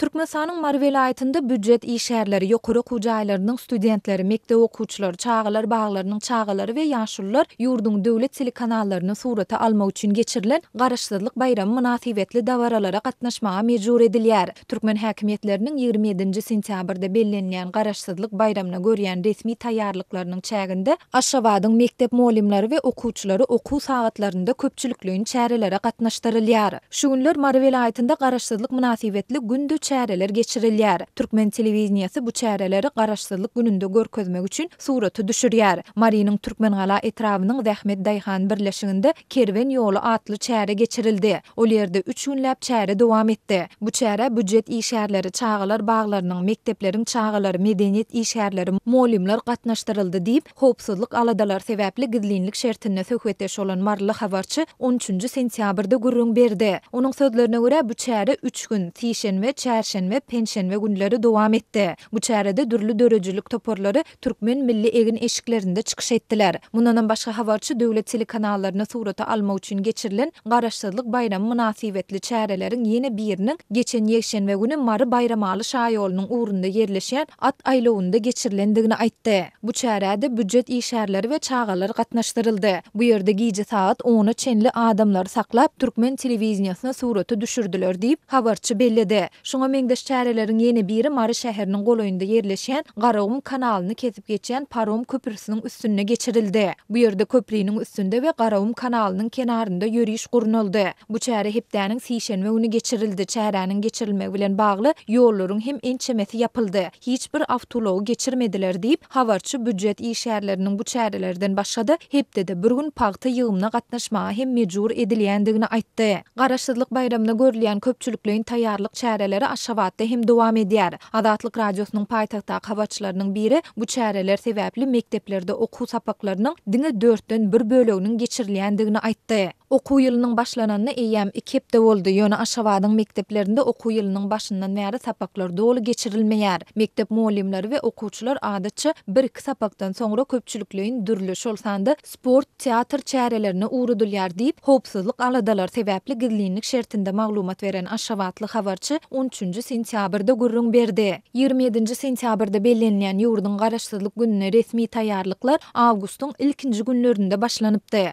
Türkmenistanyň Mary welaýatynda býujet işgärleri, ýokary okuw jaýlarynyň studentleri, mekdep okuwçylary, çagalar baglarynyň çagalary we ýaşulular ýurduň döwlet telekanallaryny surata almak üçin geçirilen Garaşsyzlyk baýramy mynasybetli dabaralara gatnaşmaga mejbur edilýär. Türkmen häkimiýetleriniň ýigrimi ýedinji sentýabrda bellenilýän Garaşsyzlyk baýramyna görýän resmi taýýarlyklarynyň çäginde Aşgabadyň mekdep mugallymlary we okuwçylary okuw sagatlarynda köpçülikleýin çärelere gatnaşdyrylýar. Şu günler Mary welaýatynda Garaşsyzlyk mynasybetli günde çäreler geçirilýär. Türkmen telewideniýesi bu çäreleri Garaşsyzlyk gününde görkezmek üçin surata düşürýär. Marynyň Türkmengala etrabynyň Zähmet daýhan birleşiginde Kerwen ýoly atly çäre geçirildi. Ol ýerde üç günläp çäre dowam etdi. Bu çärä býujet işgärleri, çagalar baglarynyň, mekdepleriň çagalary, medeniýet işgärleri, mugallymlar gatnaşdyryldy diýip, Howpsuzlyk aladalary sebäpli gizlinlik şertinde söhbetdeş bolan maryly habarçy on üçünji sentýabrda gürrüň berdi. Onuň sözlerine görä, bu çäre üç gün, sişenbe, çärşenbe, penşenbe günleri dowam etdi. Bu çärede dürli döredijilik toparlary türkmen milli egin-eşiklerinde çykyş etdiler. Mundanam başga habarçy döwlet telekanallaryny surata almak üçin geçirilen Garaşsyzlyk baýramy mynasybetli çäreleriň ýene biriniň geçen ýekşenbe güni Mary-Baýramaly şaýolunyň ugrunda ýerleşýän at aýlawynda geçirilendigini aýtdy. Bu çärä-de býujet işgärleri we çagalar gatnaşdyryldy. Bu ýerde gije sagat ona çenli adamlary saklap, türkmen telewideniýesine surata düşürdiler diýip, habarçy belledi. Şuňa meňzeş çäreleriň ýene biri Mary şäheriniň golaýynda ýerleşýän Garagum kanalyny kesip geçýän parom köprüsiniň üstünde geçirildi. Bu ýerde köpriniň üstünde we Garagum kanalynyň kenarynda ýöriş gurnaldy. Bu çäre hepdäniň sişenbe güni geçirildi. Çäräniň geçirilmegi bilen bagly ýollaryň hem ençemesi ýapyldy. hiç bir awtoulagy geçirmediler diýip, habarçy býujet işgärleriniň bu çärelerden başga-da, hepdede bir gün pagta ýygymyna gatnaşmaga hem mejbur edilýändigini aýtdy. Garaşsyzlyk baýramyna görülýän köpçülikleýin taýýarlyk çäreleri Aşgabatda hem dowam edýär. Azatlyk Radiosynyň paýtagtdaky habarçylarynyň biri bu çäreler sebäpli mekdeplerde okuw sapaklarynyň diňe dörtden bir böleginiň geçirilýändigini aýtdy. Okuw ýylynyň başlananyna eýýäm iki hepde boldy, ýöne Aşgabadyň mekdeplerinde okuw ýylynyň başyndan bäri sapaklar doly geçirilmeýär. Mekdep mugallymlary we okuwçylar adatça bir-iki sapakdan soňra köpçülikleýin dürli, şol sanda sport, teatr çärelerine ugradylýar diýip, howpsuzlyk aladalar sebäpli gizlinlik şertinde maglumat beren aşgabatly habarçy on üçünji sentýabrda gürrüň berdi. Ýigrimi ýedinji sentýabrda bellenilýän ýurduň Garaşsyzlyk gününe resmi taýýarlyklar awgustyň ilkinji günlerinde başlanypdy.